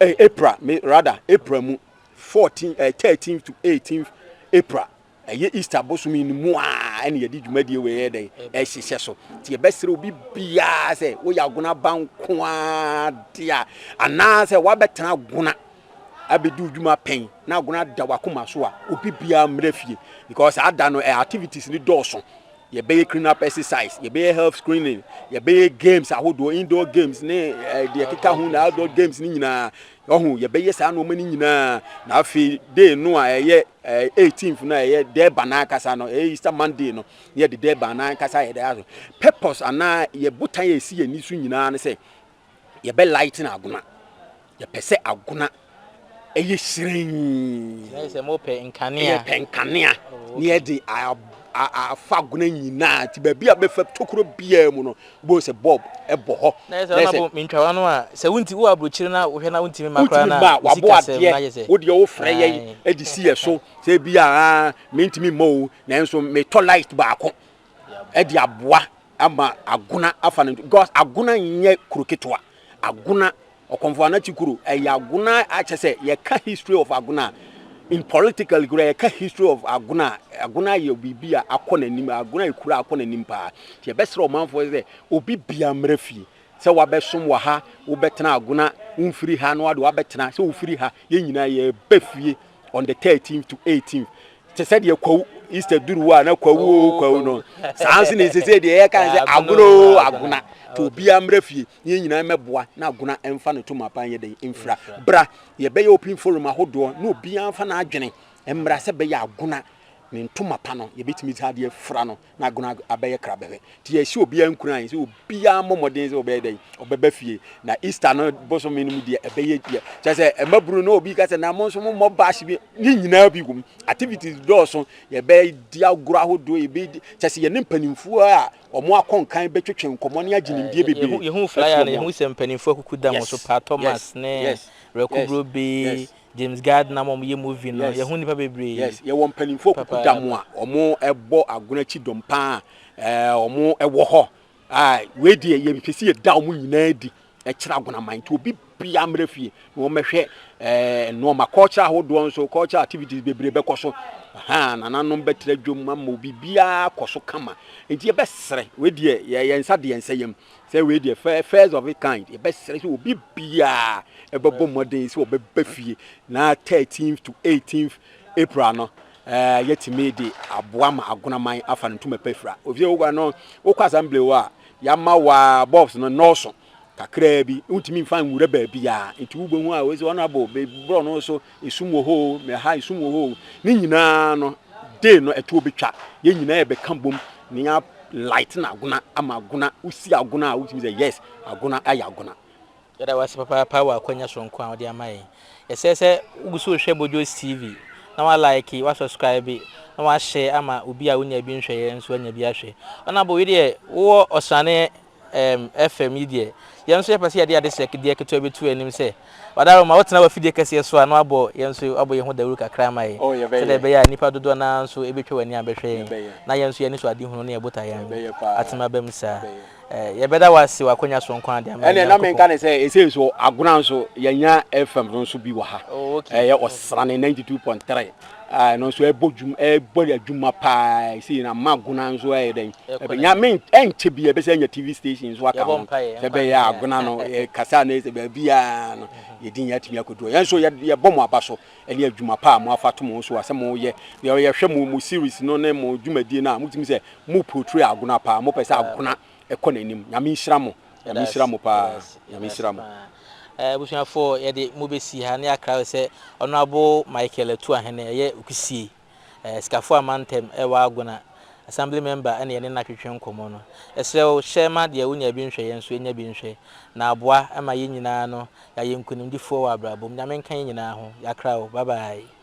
eh, April, me, rather, April mu, 14, eh, 13 to 18 April. ɛyɛ eh, easter bosom yi mu a ɛna yɛde dwumadie wɔ yɛ dɛn ɛhyehyɛ so nti yɛbɛsrɛ obi biara sɛ woyɛ agona ba nko ara de a anaasɛ woabɛtena agona abedi wo dwuma pɛn na agona ada wakoma so a obi biara mmra fie because saa da no eh, activities ni dɔɔso yɛbɛyɛ cleanup up exercise yɛbɛyɛ health screening yɛbɛyɛ games ahodoɔ indoor games ne eh, deɛ keka ho na outdoor games ne nyinaa ɔho yɛbɛyɛ saa nneɛma no nyinaa na afei day no a ɛyɛ eh, 18th no a ɛyɛ dɛɛba no ankasa no ɛyɛ easter monday no na yɛde dɛɛba no ankasa yɛde aso purpose anaa yɛ botan a ɛsi yɛni so nyinaa ne sɛ yɛbɛ lighten agona yɛpɛ sɛ agona ɛyɛ hyerɛnn sɛ mo pɛ nkanea yɛ pɛ nkanea ne yɛ de afa agona nyinaa ti baabi a bɛfa tokuro biara mu no wobɛhu sɛ bob ɛbɔ hɔ na yɛ sɛ ɔnabɔ mentwawa no a sɛ wonti wo aburokyire na wohwɛ na wontimi ma koraa na wabɔ adeɛ wodeɛ wofrɛ yɛ de si yɛ so sɛ bi a mentimi ma o nanso metɔ light baako de aboa ama Agona afa no because Agona nyɛ kuro ketewa Agona Ɔkɔmfo Anati kuro ɛyɛ Agona akyɛ sɛ yɛka history of Agona in politically kura yɛka history of Agona Agona yɛ biribi a akɔ n'anim Agona yɛ kura akɔ n'anim paa yɛbɛsrɛ ɔmanfoɔ sɛ obi bia mmerɛ fie sɛ wabɛsom wɔ ha, wobɛtena Agona, womfiri ha na wode wabɛtena, sɛ wofiri ha, yɛn nyinaa yɛba fie on the 13th to 18th. Te sɛ deɛ kwawu Easter duru a na kwawu o oh, kwawu no saa nso na ɛsesɛ deɛ yɛka ne sɛ Agona o oh, Agona nti obiara mmra fie na yɛn nyinaa mmɛboa na Agona ɛmfa no to mapa nyɛ dɛn mfira bra yɛbɛyɛ open forum ahodoɔ na obiara mfa n'adwene mmra sɛ bɛyɛ Agona ne ntoma pa no yɛbɛtumi sɛ adeɛ fra no Na Agona abɛyɛ krabɛhwɛ nti yɛhyɛ obiara nkuran sɛ obiara mmɔ mmɔden sɛ ɔbɛyɛ dɛn ɔbɛba fie na Easter no bosome no mu deɛ ɛbɛyɛ deɛ kyɛ sɛ ɛma bunu na obi ka sɛ na mo nso mo mmɔ bash bi ne nyinaa bi wom activities dɔɔso yɛbɛdi agorɔ ahodoɔ yɛbɛdi kyɛ sɛ yɛne mpanimfoɔ a wɔn akɔnkan bɛtwetwe nkɔmmɔ ne agye nimdeɛ bebree yɛhu flyer no yɛhu sɛ mpanimfoɔ akuku da mo so pa Thomas ne Rɛko Brobe James Gardner ama wɔyɛ movie no, Yes. yɛho nnipa bebree. Yes, yɛwɔ mpanimfoɔ kuku da mu a Papaapa. wɔbɔ agono akyi dɔm paa a ɛɛ, wɔwɔ hɔ a wei deɛ yɛpɛ sɛ yɛda wɔn nyinaa adi kyerɛ agonaman nti obi biara mmra fie na wɔmmɛhwɛ ɛɛ nnoɔma culture ahodoɔ nso culture activities bebree bɛkɔ so ahaa nananom bɛtra dwom ama obi biara akɔ so kama nti yɛbɛsrɛ wei deɛ yɛ yɛn nsa deɛ nsa yam Sɛ wei deɛ fɛ first of it kind yɛbɛsrɛ sɛ obi biara ɛbɛbɔ mmɔden sɛ ɔbɛba fie na 13th to 18th April no ɛɛ eh, yɛtumi de aboa ma agonaman afa no ntoma pɛfira ofisɛ wokɔ no wokɔ assembly hɔ a yɛama wa bobs no nɔɔso kakraa bi wontumi mfa nwura baabi a nti wobɛhu a wɔsɛ ɔnabo bɛbrɔ no so Esum wɔ hɔ oo, me ha esum wɔ hɔ oo, ne nyinaa no day no ɛtoɔ bɛtwa, yɛn nyinaa yɛbɛka bom na yɛn lighten agona ama agona, wosi agona a wotumi sɛ yes agona ayɛ agona. Yɛda wo ase papaapa wɔ akwanya soronko a wode ama yɛn. Yɛsrɛ sɛ wogu so rehwɛ Bojos TV na wa like, wa subscribe na wa share ama obi a onnya bi nhwɛeɛ nso anya bi ahwɛ. Honourable, wo deɛ wowɔ ɔsrane ɛɛm ɛfɛm yi deɛ, yɛn nso yɛpɛ sɛ yɛde ade sɛ deɛ ketewa bi to anim sɛ, Ɔdaro ma wotena w'afidie kɛseɛ so a na wabɔ yɛn nso abɔ yɛn ho dawuru kakra ama yɛn Oh yɛbɛyɛ. sɛdeɛ ɛbɛyɛ a nnipa dodoɔ no ara nso ɛbɛtwa w'ani abɛhwɛ yɛn Yɛbɛyɛ. na yɛn nso yɛn anisoadehunu ne yɛn botaeɛ no Yɛbɛyɛ paa. atumi aba mu saa. Yɛbɛyɛ. Ɛɛ, yɛbɛda wo ase w'akwannya soronko a de ama yɛn, Ɛnneɛ na Nyankopɔn. menka no sɛ ɛsei nso Agona nso yɛanya ɛfɛm no nso bi wɔ ha. Oh, okay. Ɛyɛ Ɔsrane 92.3. a ɛno nso ɛbɔ dwum ɛbɔ adwuma paa ɛsi na ma agona nso ɛyɛ dɛn ɛbɛ nya me ɛnkyɛ bi ɛbɛsɛ nya tv station nso aka ho sɛ bɛyɛ agona no kasa na ɛsɛ baabi a no yɛdi nyɛ atumi akodu yɛn nso yɛbɔ mo aba so ɛne adwuma paa mo afa to mo so a sɛ mo yɛ yɛhwɛ mo mo series no ne mo dwumadie no a motumi sɛ mo portray agona paa mopɛ sɛ agona ɛkɔ nanim nyame nhyira mo nyame nhyira mo paa nyame nhyira mo. Abusuafoɔ yɛde mo bɛsi ha na yɛakra wo sɛ Honourable Michael Atuu Ahene ɛyɛ Okusie, Sikafoɔ Amantam wɔ Agona, Assembly Member na yɛne no atwetwe nkɔmmɔ no. Yɛsrɛ wo hyɛ ma deɛ wonya bi nhwɛ yɛn nso yɛnya bi nhwɛ na aboa ma yɛn nyinaa no yɛayɛ nkunimdifoɔ wɔ abrabɔ mu. Nyame nka yɛn nyinaa ho. Yɛakra wo. Bye bye.